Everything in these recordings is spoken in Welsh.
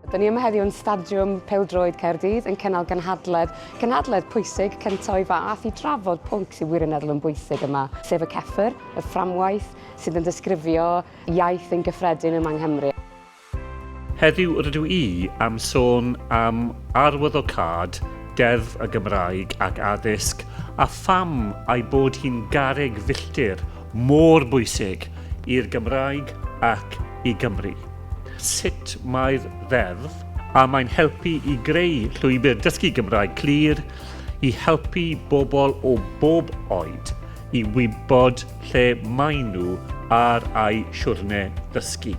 Dyn ni yma heddiw yn Stadiwm Peldroed Caerdydd yn cynnal gynhadledd, gynhadledd pwysig cyntaf o'i fath i drafod pwnc sy'n wirioneddol yn bwysig yma, sef y ceffr, y fframwaith sydd yn disgrifio iaith yn gyffredin yma yng Nghymru. Heddiw rydw i am sôn am arwyddocâd Deddf y Gymraeg ac Addysg a pham ei bod hi'n garreg filltir mor bwysig i'r Gymraeg ac i Gymru. Sut mae'r Ddeddf a mae'n helpu i greu llwybr dysgu Gymraeg clir i helpu bobl o bob oed i wybod lle maen nhw ar eu siwrne dysgu.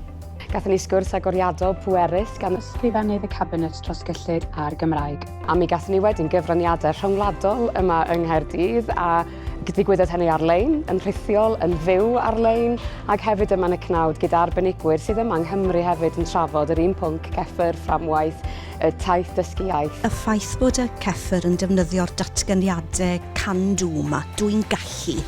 Gathon ni sgwrs agoriadol pwerus gan Ysgrifennydd y Cabinet dros gyllid a'r Gymraeg. A mi gathon ni wedyn gyfraniadau rhyngwladol yma yng Nghaerdydd a digwyddodd hynny ar-lein, yn rhithiol, yn fyw ar-lein ac hefyd yma yn y cnawd gyda arbenigwyr sydd yma yng Nghymru hefyd yn trafod yr un pwnc, ceffyr, fframwaith, y taith dysgu iaith. Y ffaith bod y ceffyr yn defnyddio'r datganiadau 'can do' 'ma, 'dw i'n gallu',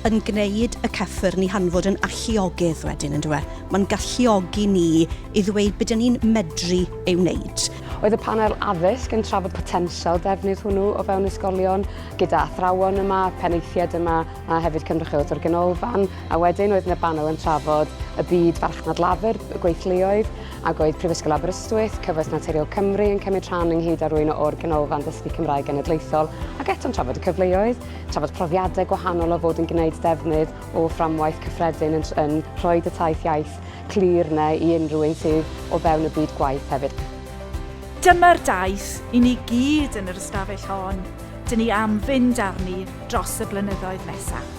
yn gwneud y cyffyrn i hanfod yn alluogydd wedyn, yn dyw e? Mae'n galluogi ni i ddweud be dyn ni'n medru ei wneud. Oedd y Panel Addysg yn trafod potensial defnydd hwnnw o fewn ysgolion, gyda athrawon yma, penaethiaid yma a hefyd cynrychiolaeth o'r Ganolfan, a wedyn oedd 'na banel yn trafod y byd farchnad lafur, y gweithluoedd, ac oedd Prifysgol Aberystwyth, Cyfoeth Naturiol Cymru yn cymryd rhan ynghyd â rwy'n o'r Ganolfan Dysgu Cymraeg Genedlaethol, ac eto'n trafod y cyfleoedd. Trafod profiadau gwahanol o fod yn gwneud defnydd o fframwaith cyffredin yn yn rhoi dy taith iaith clir yna i unrhyw un sydd o fewn y byd gwaith hefyd. Dyma'r daith i ni gyd yn yr ystafell hon, dyn ni am fynd arni dros y blynyddoedd nesaf.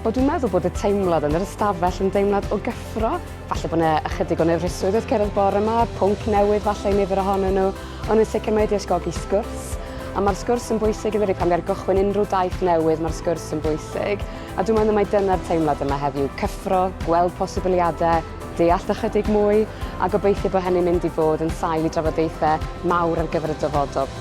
Wel dwi'n meddwl bod y teimlad yn yr ystafell yn deimlad o gyffro, falle bod 'na ychydig o nerfusrwydd wrth cerdded bore 'ma, pwnc newydd falle i nifer ohonyn nhw, Ond yn sicr mae wedi ysgogi sgwrs, a mae'r sgwrs yn bwysig yndydi? Pan ger gychwyn unrhyw daith newydd mae'r sgwrs yn bwysig, a dwi'n meddwl mai dyna'r teimlad yma heddiw, cyffro, gweld posibiliadau, deall ychydig mwy, a gobeithio bod hynny'n mynd i fod yn sail i drafodaethau mawr ar gyfer y dyfodol.